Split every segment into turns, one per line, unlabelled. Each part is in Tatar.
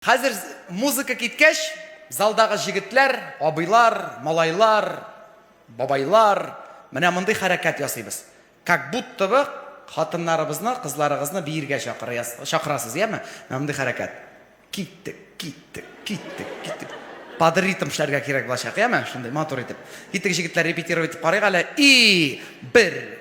Хәзер музыка киткәч, залдагы җегетләр, абыйлар, малайлар, бабайлар, менә мондый хәрәкәт ясыйбыз. Как будто бы хатыннарыбызны, кызларыгызны биергә чакырасыз, яме? Менә мондый хәрәкәт. Киттек, киттек, киттек, киттек. Под ритм эшләргә кирәк булачак, яме? Шундый матур итеп. Киттек, җегетләр, репетировать итеп карыйк әле. И, бер!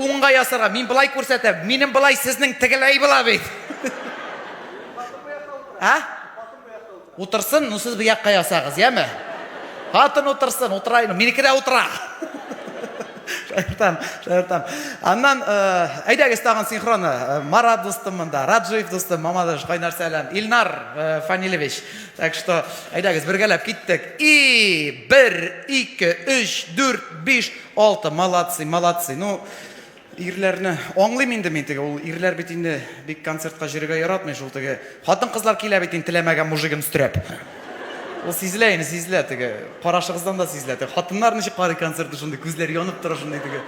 Уңга ясарга, мин былай күрсәтәм, минем былай, сезнең тегеләй була бит. Ә? Утырсын, ну сез бу якка ясагыз, яме? Хатын утырсын, утыра, минеке дә утыра. Шаяртам, шаяртам. Аннан, э, әйдәгез тагын синхроны. Э, Марат дустым монда, Раджиев дустым, Мамадыш, кайнар сәлам. Илнар э, Фанилевич. Так что, әйдәгез, бергәләп киттек. И, бер, ике, өч, дүрт, биш, Алты, молодцы, молодцы. Ну, ирләрне аңлыйм инде мин теге, ул ирләр бит инде бик концертка җөрергә яратмый шул теге. Хатын-кызлар килә бит инде теләмәгән мужигын өстерәп. Ул сизелә инде, сизелә теге. Карашыгыздан да сизелә теге. Хатыннар ничек карый концертны шундый, күзләр янып тора шундый теге.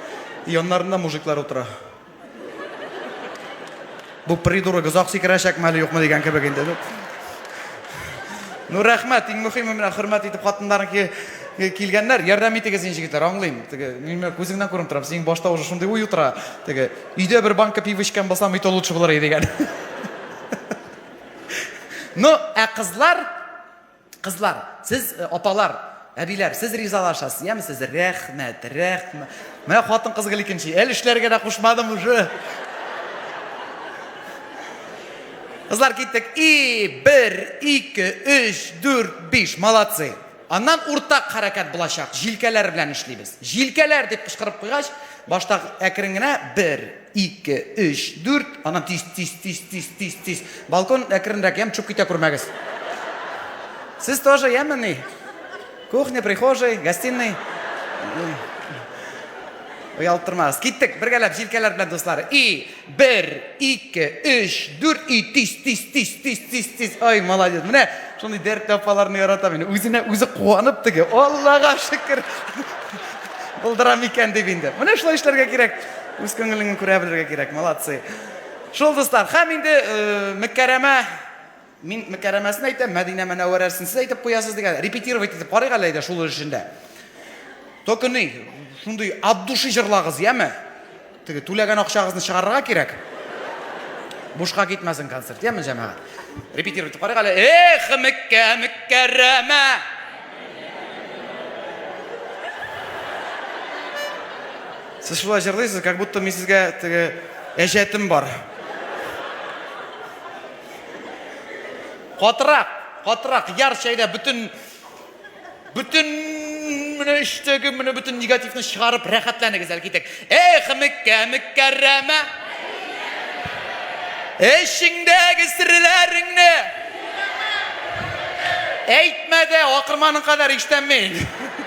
Яннарында мужиклар утыра. Бу придурок озак сикерәчәкме әле юкмы дигән кебек инде. Ну рәхмәт, иң мөхиме менә хөрмәт итеп хатыннарынки килгәннәр. Ярдәм итегез инде җегетләр, аңлыйм. Теге минем күзеңнән күренеп тора, синең башта уже шундый уй утыра. Теге өйдә бер банка пиво эчкән булсам, өйтә лучше булыр иде дигән. Ну, ә кызлар Кызлар, сез э, апалар, әбиләр, сез ризалашасыз, яме сез? Рәхмәт, рәхмәт. Менә хатын кыз гел икенче. Әле эшләргә дә кушмадым уже. Кызлар киттек. И, бер, ике, өч, дүрт, биш. Молодцы. Аннан уртак хәрәкәт булачак. Җилкәләр белән эшлибез. Җилкәләр дип кычкырып куйгач, башта әкрен генә бер, Ике, өч, дүрт, аннан тиз, тиз, тиз, тиз, тиз, тиз. Балкон әкренрәк, ямь чук китә күрмәгез. Сез тоже яме ни? Кухня, прихожей, гостиный. Оялттырмагыз. Киттек, бергәләп, җилкәләр белән дуслар. И, бер, ике, өч, дүрт, и, тиз, тиз, тиз, тиз, тиз, тиз. Ай, молодец. Менә шундый дәртле апаларны яратам мин. Үзенә үзе куанып теге. Аллага шөкер. Булдырам икән дип инде. Менә шулай эшләргә кирәк. Үз күңелеңне күрә белергә кирәк, молодцы. Шул дуслар, хәм инде Мөккәрәмә, мин Мөккәрәмәсен әйтәм, Мәдинә Мәнәвәрәсен сез әйтеп куясыз дигән, репетировать итеп карыйк әле әйдә шул өлешендә. Только ни, шундый от души җырлагыз, яме? Теге түләгән акчагызны чыгарырга кирәк. Бушка китмәсен концерт, яме җәмәгать? Репетировать итеп карыйк әле. Эх, Мөккә, Мөккәрәмә! Сез шулай җырлыйсыз, как будто мин сезгә теге әҗәтем бар. Катырак, катырак, яр чәйдә бөтен бөтен менә эчтәге менә бөтен негативны чыгарып рәхәтләнегез әле китек. Эх, Меккә, Меккәрәмә. Эчеңдәге серләреңне әйтмә дә, акырманың кадәр ишетәм мин.